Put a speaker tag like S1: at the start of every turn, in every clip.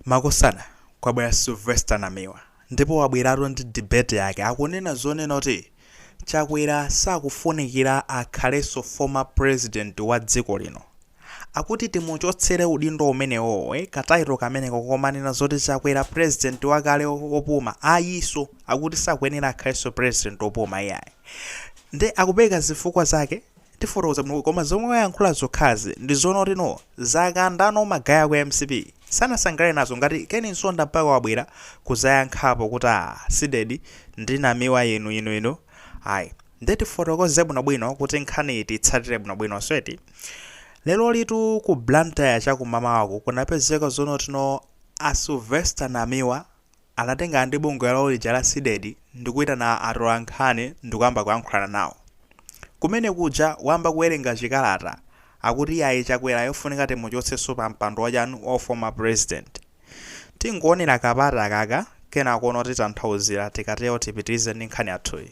S1: Makosana kwabwera Sylvester Namiwa ndipo wabweratu ndi debate yake akunena zonena kuti Chakwera sakufunikira akhalenso former president wa dziko lino. Akuti timuchotsere udindo umenewoo ka title kameneko komanena zoti Chakwera president wakale opuma ayiso akuti sakuyenera akhalenso president opuma iyayi. Nde akupereka zifukwa zake. Tifotokoza bwino koma zomwe wayankhula zokhazi ndizoona kuti no zakanda no magaye aku mcp sanasangalale nazo ngati Ken Msonda mpaka wabwera kuzayankhapo kuti aah Cdedi ndi namiwa inu inu inu ayi nde tifotokoze bwino bwino kuti nkhaniyi tiyitsatire bwino bwino so eti lerolitu ku Blantyre chakumamawaku kunapezeka zoona kuti no a Sylvester Namiwa Anatengana ndi bungwe lawo lija la Cdedi ndikuitana atolankhani ndikuyamba kuyankhulana nawo. Kumene kuja wayamba kuwerenga chikalata akuti iyayi Chakwera yofunika timuchotsenso pa mpando wachanu wa uformer president. Tingoonera ka part kakaka kenako no titanthauzira tikatero tipitirize ndi nkhani yathuyi.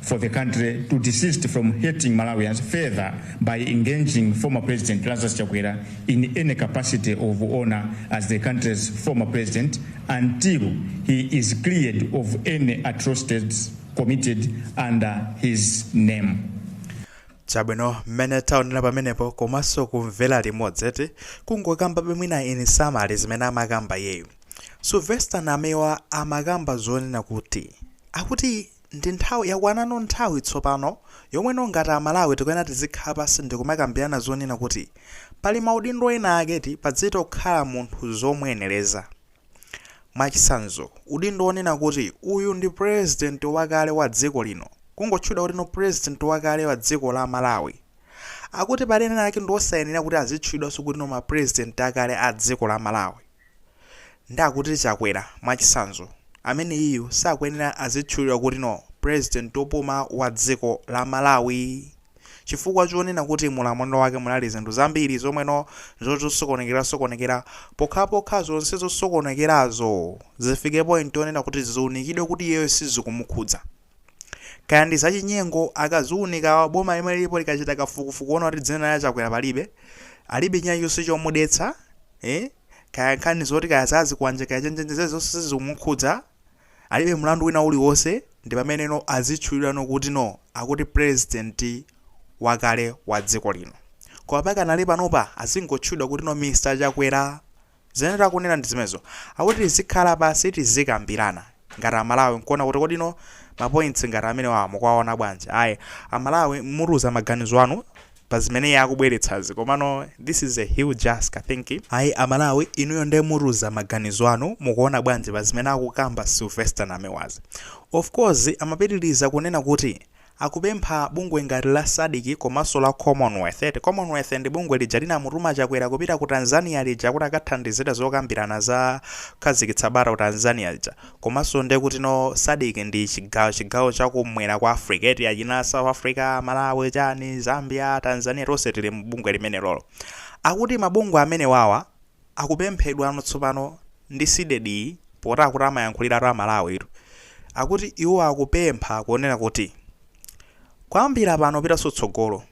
S2: for the country to desist from hurting Malawians further by engaging former President Lazarus Chakwera in any capacity of honor as the country's former president until he is cleared of any atrocities committed under his name.
S1: chabwino mmene taonera pamenepo komanso kumvera limodzi eti kungokamba be mwina in summary zimene amakamba iyeyu sylvester namiwa amakamba zonena kuti akuti Ndi nthawi, yakwanano nthawi tsopano yomwe no ngati a Malawi tikuyenera tizikhala pansi ndikumakambirana zonena kuti pali maudindo ena ake eti pazitokhala munthu zomuyeneleza. Mwachitsanzo, udindo wonena kuti uyu ndi president wakale wa dziko lino, kungotchulidwa kuti no president wakale wa dziko la Malawi. Akuti pali ena ake ndiwosayenera kuti azitchulidwanso kuti no ma president akale a dziko la Malawi. Nde akuti Chakwera mwachisanzo ameneyiyu sakuyenera azitchulidwa kuti no president opuma wa dziko la Malawi chifukwa chonena kuti mulamuliro wake munali zinthu zambiri zomwe no zosokonekera sokonekera pokhapokha zonse zosokonekerazo zifike point yonena kuti ziunikidwe kuti iyeyo sizikumukhudza. kaya ndi zachinyengo akaziunika boma limene lilipo likachita kafukufuku kuona kuti dzina la chakwera palibe alibe china chonse chomudetsa eh? kaya nkhani zoti kaya zazikwanje kaya chenjenje zonse sizikumukhudza alibe mlandu wina uliwonse ndi pamene no azitchulidwano kuti no akuti president wakale wa dziko lino koma pakanali panopa azingotchulidwa kuti no mr chakwera Zimene takunena ndi zimenezo. Akuti tizikhala pansi tizikambirana ngati Amalawi n'kuona kuti kodi ino mapointsi ngati amenewawa mukuwaona bwanji. Ayi, Amalawi mutiuze maganizo anu pa zimene iye akubweretsazi. Komano this is a huge ask, I think. Ayi, Amalawi inuyo nde mutiuze maganizo anu, mukuona bwanji pa zimene akukamba Sylvester Namiwazi. Of course, amapitiriza kunena kuti, Akupempha bungwe ngati la Sadc komanso la Commonwealth, Commonwealth ndi bungwe lija linamutuma Chakwera kupita ku Tanzania lija kuti akathandizire zokambirana za kukhazikitsa bata ku Tanzania lija komanso nde kuti no Sadc ndi chigawo chigawo cha kumwera kwa Africa eti achina South Africa, Malawi, chani, Zambia, Tanzania tonse tili mu bungwe limenelolo. Akuti mabungwe amenewawa. Akupemphedwano tsopano ndi CDEDI poti akuti amayankhuliratu Amalawitu. Akuti iwo akupempha kunena kuti kuyambira pano kupitanso tsogolo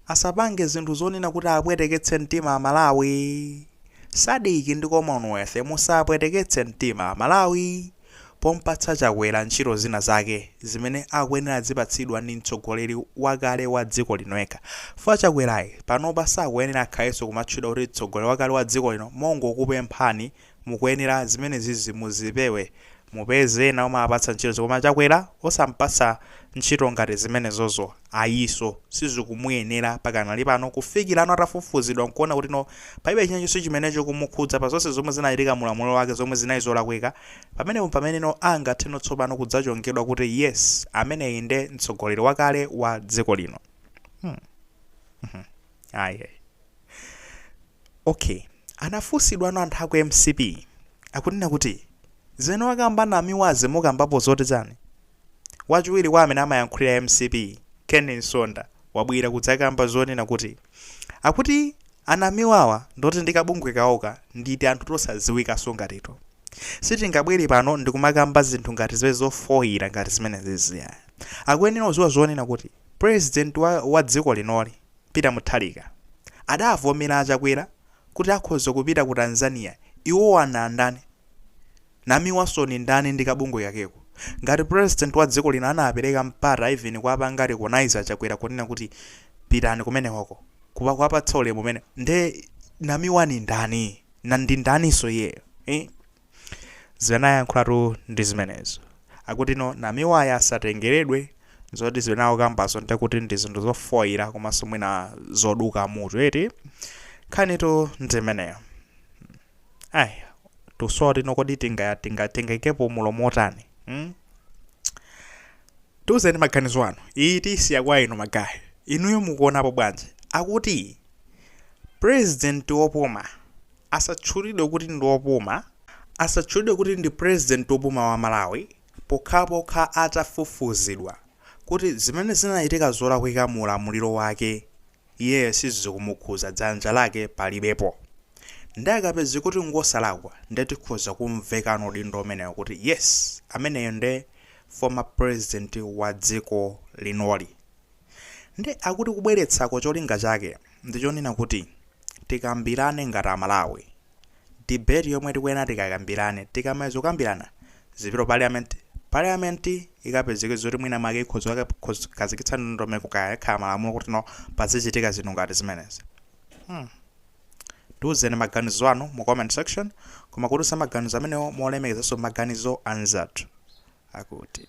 S1: asapange zinthu zonena kuti apweteketse mtima Amalawi. Sadc ndi Commonwealth musapweteketse mtima Amalawi. pompatsa Chakwera ntchito zina zake zimene akuyenera azipatsidwa ndi mtsogoleri wakale wa dziko lino yekha. Chifukwa Chakwerayi panopa sakuyenera akhalenso kumatchedwa kuti mtsogoleri wakale wa dziko lino, mongokupemphani, mukuyenera zimenezizi muzipewe. Mupeze ena omawapatsa ntchitozi koma Chakwera osampatsa ntchito ngati zimenezozo. Ayiso, sizikumuyenera pakanali pano kufikira no atafufuzidwa nkuona kuti no palibe china chonse chimene chikumukhudza pa zonse zomwe zinachitika mu ulamuliro wake zomwe zinali zolakwika, pamenepo mpamene no angathe no tsopano kudzachongedwa kuti yes ameneyi nde mtsogoleri wakale wa dziko lino. Hmm. Hmm. Ayi. Ayi. Okay. Anafunsidwano anthu a ku mcp akunena kuti zimene wakamba Namiwazi mukambapo zoti chani? Wachiwiri kwa amene amayankhulira mcp, Ken Msonda, wabwera kudzakamba zonena kuti akuti a Namiwawa nd'oti ndi kabungwe kawoko ndi tianthu tosadziwikanso ngatitu. Sitingabwere pano ndikumakamba zinthu ngati zimene zofoira ngati zimenezizi ayi. Akuyenera kudziwa zonena kuti President wa wa dziko linoli, Peter Mutharika, adavomera a Chakwera kuti akhoza kupita ku Tanzania, iwowa ndi ndani? Namiwaso ni ndani ndi kabungwe kakeko? Ngati president wa dziko lino anapeleka mpata even kuwapanga recognize a Chakwera kunena kuti pitani kumenekoko, kuwa kuwapatsa ulemu umene, nde Namiwa ni ndani? Na ndi ndaniso iyeyo? Iih, zimene anayankhulatu ndi zimenezo. Akutino Namiwayi asatengeledwe zoti zimene akukambazo nde kuti ndi zinthu zofoila komanso mwina zoduka mutu eti? Nkhanitu ndi imeneyo. Ai, tikusowa kuti no kodi tinga tinga tingaikepo mulomo otani? Hmm? Tiuzeni maganizo anu. Iyi tiyisiya kwa inu magayi. Inuyo mukuonapo bwanji? Akuti president wopuma asatchulidwe kuti ndi wopuma, asatchulidwe kuti ndi president wopuma wa Malawi pokhapokha atafufuzidwa kuti zimene zinachitika zolakwika mu ulamuliro wake iye sizikumukhudza dzanja lake palibepo nde akapezeka kuti ngosalakwa nde tikhoza kumvekano udindo umenewo kuti yes ameneyo nde former president wa dziko linoli nde akuti kubweretsako cholinga chake ndichonena kuti tikambirane ngati amalawi debate yomwe tikuyenera tikakambirane tikamaliza kukambirana zipite parliament parliament ikapezeka zoti mwina make ikhoza kukhazikitsa ndondomeko kaya akhala malamulo kuti no pazichitika zinthu ngati zimenezi hmm. tiuzeni maganizo anu mu comment section koma kutiuza maganizo amenewo molemekezanso maganizo anzathu akuti